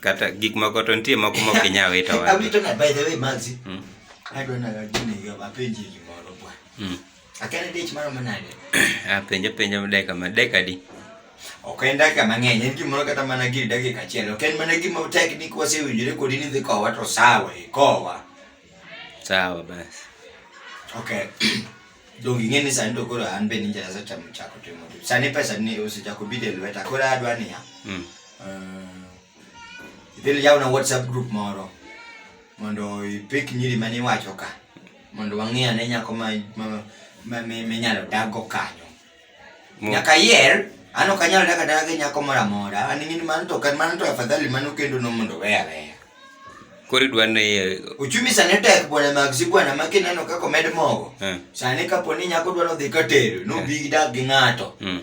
kata gik moko to nitie moko ma ok inyal wito wadgi. Awito na by the way Maxi. Mm. Adwa na gini yo apenji gimoro bwana. Mm. Akane dich mara manade. Ah, penjo penjo dakika ma dakika di. Ok en dakika mang'eny, en gimoro kata mana giri dakika achiel. Ok en mana gima tek ni kwasewinjore kodi ni dhi kowa to sawa, ikowa. Sawa basi. Okay. Donge ing'e ni sani to koro an be ninja nasechamo chako timo tich. Sani pesa ni osechako bide e lweta koro adwa niya. Mm. Uh, idhi yawna WhatsApp group moro mondo ipik nyiri mane iwacho ka mondo wang'e ane nyako ma ma- ma- mi- minyalo daggo kanyo. Nyaka yer an ok anyal daka daka gi nyako moro amora an ing'eni mano to kan mano to afadhali mano kendo no mondo we aweya koro idwa ni uchumi sani tek bwana magsi bwana ma kineno kaka omed mogo eh. sani kapo ni nyako dwa nodhi ka tedo nobi eh. gidak gi ng'ato hmm.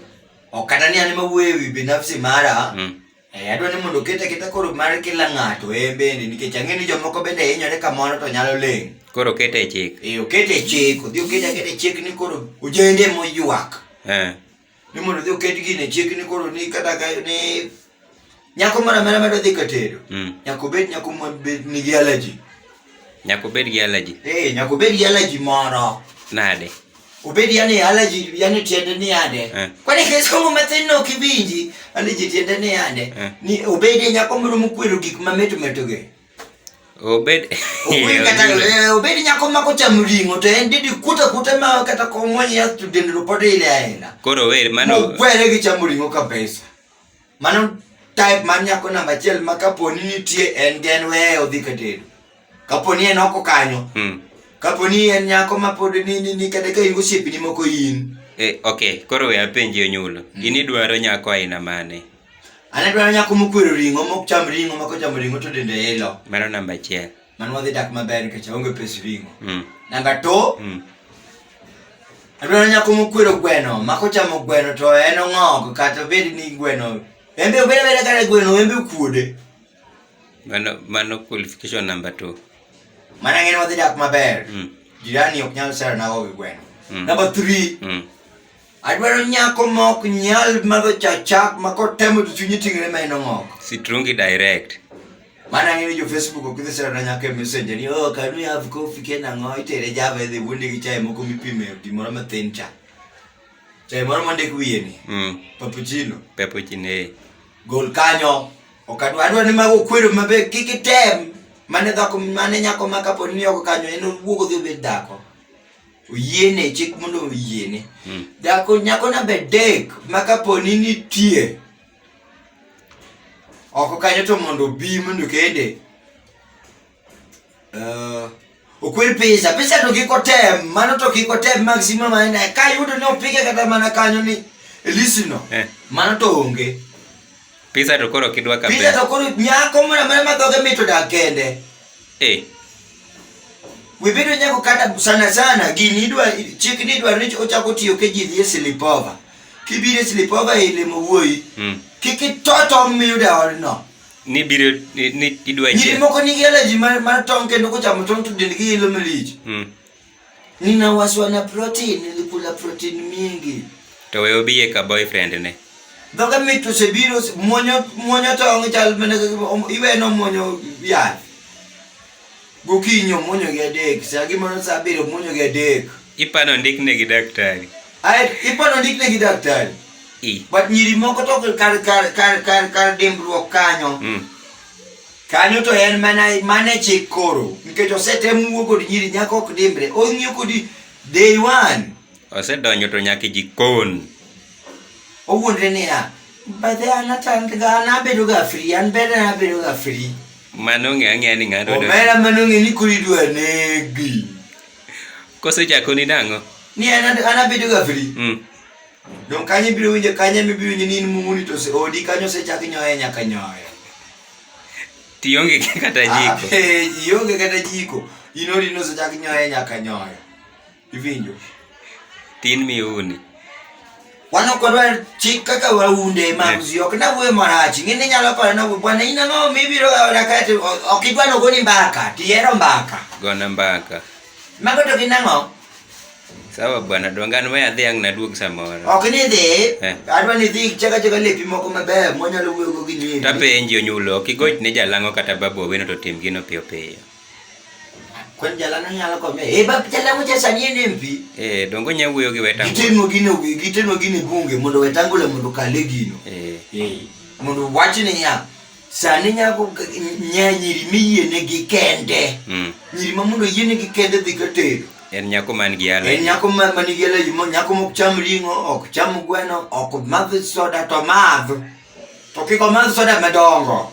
ok kata ni an mawuoyo e wi binafsi mara hmm. Eh, adwa ni mondo oket aketa koro mar kila ng'ato en bende nikech ang'e ni jomoko bende hinyore kamoro to nyalo ling'. Koro kete e chik. Eh, okete e chik, odhi okete aketa e chik ni koro ojende moywak. Eh. Ni mondo odhi oket gino e chik ni koro ni kata ka ni nyako moro amora madwa dhi ka tedo. Mm. Nyaka obed nyako ma bed nigi allergy. Nyaka obed gi allergy. Eh, nyaka obed gi allergy moro. Nade? Obedi yani allergy yani tiende ni ande. Eh. Kwani keso ngo matin no kibinji allergy tiende ni ande. Eh. Ni obedi nyako moro mukwero gik mameto metoge. Obed Obedi kata eh, obedi nyako ma ko cham ringo to en didi kuta kuta ma kata ko mo ya student ro pode ile aina. Koro wer mano. Mo kwere gi cham ringo kabisa. Mano type mar nyako namba achiel ma kaponi nitie en gen weye odhi ka tedo kaponi en oko kanyo hmm. kaponi en nyako ma pod ni kata ka in gosiepni moko in e, ok koro we apenji onyulo hmm. in idwaro nyako aina mane an adwaro nyako mokwero ring'o mok cham ring'o ma kochamo ring'o to dende ilo mano namba achiel Mano wadhi dak maber nikech aonge pes ring'o. Mm. Namba to mm. Adwaro nyako mokwero gweno, ma kochamo gweno to en ong'og kata obed ni gweno. Embe obed abeda kata gweno embe okuode. Mano mano qualification number 2. Mana ng'en wadhi dak maber. Mm. Jirani ok nyal sero nago gi gweno. Mm. Number 3. Mm. Adwaro nyako ma ok nyal madho cha chak ma kotemo to chunye ting're ma en ong'ok. Sitrungi direct. Mano ang'e ni jo Facebook ok idhi sera nyaka e messenger ni oh can we have coffee ken ang'o itere java idhi wuondi gi chai moko mipime gimoro mathin cha. Chai moro mondik wiye ni. Mm. Papuchino. Papuchino. Eh. Gol kanyo. Ok adwa adwa ni mago kwero mabe kik item. Mane dhako mane nyako ma kapo ni ok kanyo en wuogo dhi obed dhako. oyiene chik mondo oyiene hmm. dhako nyako namba adek ma kaponi nitie oko kanyo to mondo obi mondo kende uh, okwer pesa pesa to kik otem mano to kik otem maximum aina ka yudo ni opike kata mana kanyo ni elisino eh. mano to onge Pizza to koro kidwa ka Pizza to koro nyako mwana mwana madhoge mito da kende. Eh. Wibedo nyako kata sana sana gini idwa chik ni idwa ni ochako tiyo ke jini ye silipova. Kibire silipova e limo wuoyi. Mm. Kiki toto miyo da odno. Ni biro ni, ni idwa nyiri moko ni gele ji mar, mar tong kendo kochamo tong to dendgi ilo malich. Mm. Ninawashwa na protein, nilikula protein mingi. To we obiye ka boyfriend ne. Dhoga mit osebiro mwonyo mwonyo tong chal mana iweno mwonyo yath. Gokinyo mwonyo gi adek, saa gimoro saa abiriyo mwonyo gi adek. Ipano ndikne gi daktari. Ai ipano ndikne gi daktari. I. But nyiri moko to kar kar kar kar kar dimbruok kanyo. Mm. Kanyo to en mana mane chik koro nikech osetem wuo kod nyiri nyako ok dimbre ong'iyo kodi day one. Osedonjo to nyaka e jikon. Owuondre niya bathe an atandga an abedo ga free an ber an abedo ga free. Mano ong'e ang'eya ni ng'ato. Omera mano ong'e ni koro idwa negi. Kosechako ni nang'o? Ni an abedo ga free. Mm. Don kanyo ibiro winjo kanyo ibiro winjo ni in mumuni to odi kanyo osechak nyoye nyaka nyoye. Tionge kata jiko. Eh, ionge kata jiko. Inori no sechak nyoye nyaka nyoyo. Ivinjo. Tin miuni. Wan ok wadwar chik kaka waunde mamzi ok na wuoyo marach ng'e ni nyalo paro na bwana in ang'o mibiro gaona kati ok idwa nogoni mbaka tihero mbaka Gona mbaka. mago to gin ang'o Sawa bwana, dwangan we adhi ang' naduog samoro. Ok ni dhi, Eh. adwa ni dhi chaka chaka lepi moko maber mwanyalo wuoyogo gi nyiri. Tapenji onyulo, ok igoch ne jalang'o kata babu owino to tim gino piyo piyo. Kwen jalano nyalo kome. Eh bab jalano cha sani en MP. Eh, dongo nya wuoyo gi weta. Gitimo gino gitimo gino e bunge mondo wetangula mondo kale gino. Eh, Mondo wach ni ya. Sani nyako nya nyiri miyienegi kende. Mm. Nyiri ma mondo oyienegi kende dhi ka tedo. En nyako man gi allergy. En nyako man man gi allergy, mo nyako mok cham ring'o, ok cham gweno, ok madh soda to madh. To kik omadh soda madongo.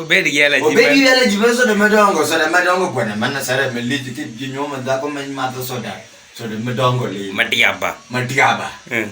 Obed gi allergy. Obed gi allergy mar soda madongo, soda madongo kwana mana sara malich ki jinyoma dhako ma madho soda. Soda madongo lee. Madiaba. Madiaba. Mm.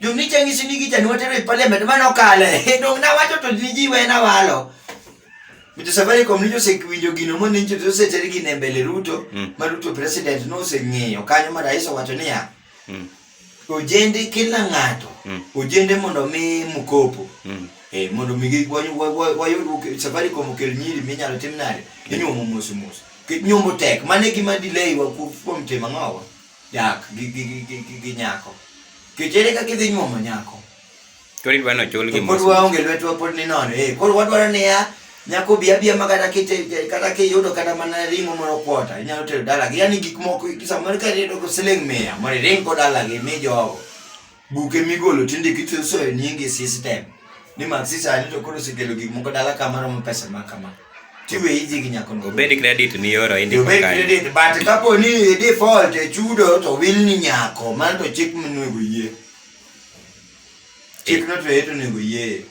Jomnicha ng'isi ni gichani watero e parliament mane okale. Dong nawacho to ni ji wena walo. Mr. Safaricom ni josewinjo gino mondo ni joseter gino e mbele Ruto Mm. ma Ruto president noseng'eyo kanyo ma rais owacho niya Mm. ojende kila ng'ato Mm. ojende mondo mi mkopo Mm. eh, mondo mi gi- wa- wa- wa- wayud oke- Safaricom okel nyiri minyalo tim nade inyuomo mos mos Ki- nyombo tek mane gima delay wa ku- kuom timo ang'owa dak gi gi gi gi gi, gi nyako. Kech ere kaka idhi nyuomo nyako? Koro idwa nochul gi To pod mos. waonge lwetwa pod ni nono. Eh, koro wadwaro niya nyako bi abia ma kata kite kata kiyudo kata mana ringo moro kwota inyalo tero dalagi yani gik moko samoro ka iyudo siling mia mondo iring go dalagi mi jogo Buge migolo tindiki tisoyo nyingi system. Ni mag sisa ni to koro sikelo gik moko dala kama romo pesa ma kama. Tiwe hizi ginyako no. Obedi credit ni yoro indi kwa kaya. Obedi credit, but kapo ni default e chudo to will ni nyako. Man to chik mnwe guye. Chik no to yetu ni guye.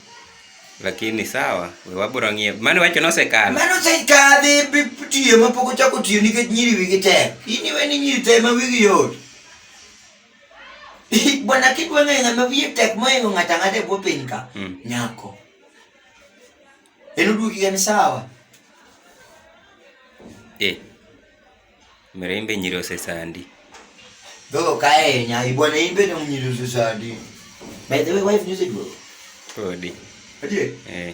Lakini sawa, wabura ngie. Mani wacho no se kala. Mani no se kala, de pitiye, mapoko chako tiyo, nike nyiri wigi te. Ini weni nyiri te, ma wigi yote. Bwana kitu wewe ng'ama wiye tek moingo ng'ata ng'ata e bwo piny ka mm. nyako. En oduoki gani sawa? Eh. Mirembe nyiri osesandi. Dogo kae nya ibwana imbe no nyiri osesandi. By the way wife news it bro. Podi. Adiye? Eh.